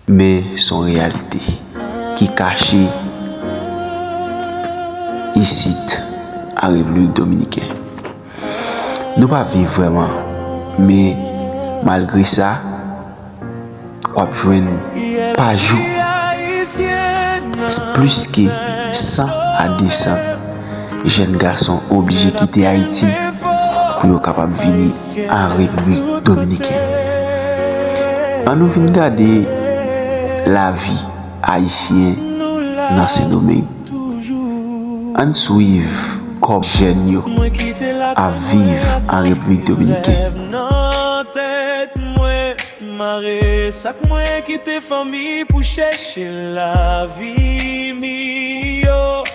Men son reyalite ki kache isit an Repiblik Dominiken. Nou pa viv vreman men malgre sa wap jwenn pa jou plis ke 100 a 200 jenn gason oblije kite Ayiti pou yo kapab vini. a Repiblik Dominiken. An nou vin gade lavi Ayisyen nan Sendomeng. An n swiv kòb jèn yo ap viv an Repiblik Dominiken.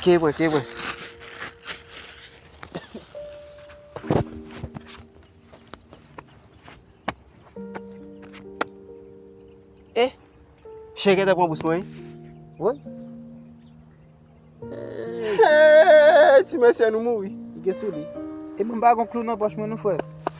Key mwen, key mwen. Eh, chè gen ta pran bous mwen. Woy. Hey, ti mesye nou mouri. Gen sou li. E mwen pa gon klou nan poch mwen nou frè.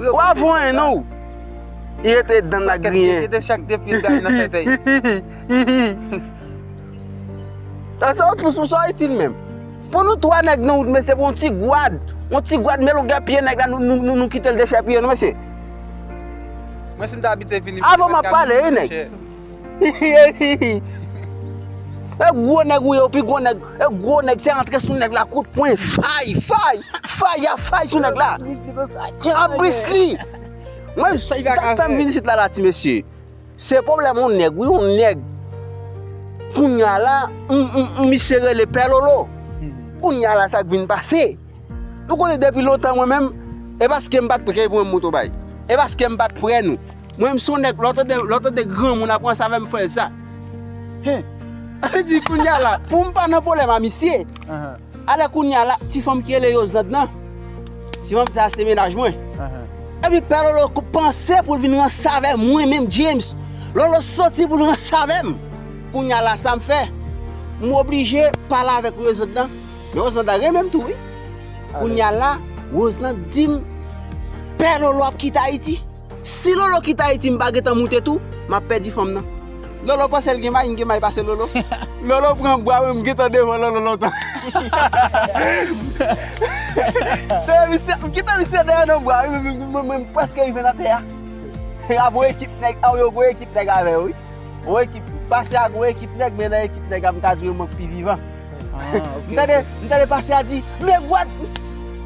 Ou a vanyen non ou. Li rete dan nan griyen. Kite chak de pil dal nan tete yi. Sa ou pous pou sa ou itil menm. Pou nou 3 nèg nan wout mesye pou yon ti gwad. Yon ti gwad men longè pye nèg la nou kitel dechèpiye nou mesye. Mwen si m ta abitye vini. Avan m ap pale wi nèg. E gwo nèg ou ye ou pi gwo nèg E gwo nèg se antre sou nèg la kout pwen Fay fay Fay ya fay sou nèg la An plis li Mwen sa k fèm vin isit la la ti mesye Se pwoblèm yon nèg wi yon nèg Kounya la misye rele pè lolo Kounya la sa k vin pase Ou konnen depi lontan mwen menm E paske m pa t pre pou mwen m moto bay E paske m pa t pre nou Mwen m son nèg lè w tande lè w tande granmoun ap ranse avèm fè sa Hein Li di kounya la poum pa nan problème a misye Alè kounya la ti fanm ki rele Yozlande nan Ti fanm sa se mennaj mwen Epi pè lolo panse poul vin ranse avè mwen menm James Lolo soti poul ranse avèm Kounya la sam fè M oblije pale avèk Rozlande nan Men Rozlande la renmenm tou wi Kounya la Rozlande dim Pè lolo ap kite ayiti Si lolo kite ayiti m pa gentan moute tou map pèdi fanm nan. Lolo pansel gen may m gen may pase lolo lolo pran bwa mwen m gentan devan lolo lontan dèyè misye m kite misye dèyè nan bwa wi mwen menm m preske rive nan tè a a gwo ekip nèg a yo gwo ekip nèg avè yo wi gwo ekip m pase a gwo ekip nèg men nan ekip nèg a m ka di yo mwen k pi vivan m tande m tande pase a di men gwòd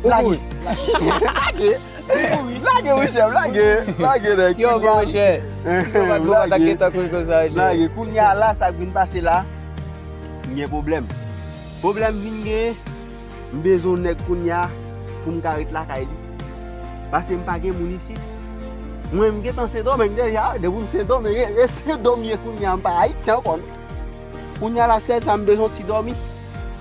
lage lage. Lage wi chèf lage Lage nèg Yo gwo mwen chè Lage Kounye a la sa k vin pase la M gen pwoblèm Pwoblèm vin gen M bezwen yon nèg kounye a Pou m ka ret lakay li Pase m pa gen moun isit Mwen m gentan sendomeng deja Depi m sendomeng E sendomeng m ye kounye a M pa ayiti ankò non Kounye a la sèl sa m bezwen yon ti dòmi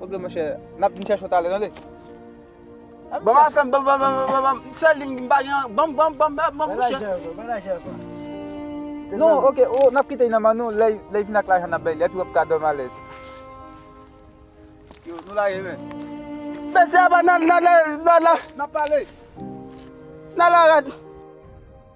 Ok monchè, nap vin chèche w talè tande. Banm afèm, banm banm banm banm banm, sèl li m pa gen an, banm banm banm banm banm monchè. Bay lajè bay lajè sa. Non ok oh nap kite li nan men nou, lèy lèy vin ak lajan nap bay li, epi wap ka dòmi alèz. Yo nou lage men. Mesye aba nan nan nan nan. Nap pale. Nan la rad.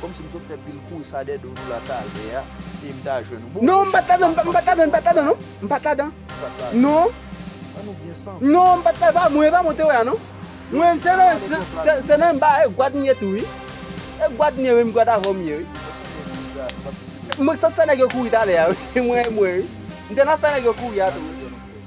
Komsi m sot fè pil kouz sa dè do nou la talè a e m ta jwenn ou. Bon non m pat ladan m pat ladan m pat ladan non m pat ladan non An nou byen santi non m pat ladan epa mwen epa mwen te wè a non Mwen se nan se nan enba e gwad m ye tou wi e gwad m ye menm gwad avè w m ye wi Mwen sot fè nèg yo kouri talè a wi mwen mwen wi M te nan fè nèg yo kouri a tou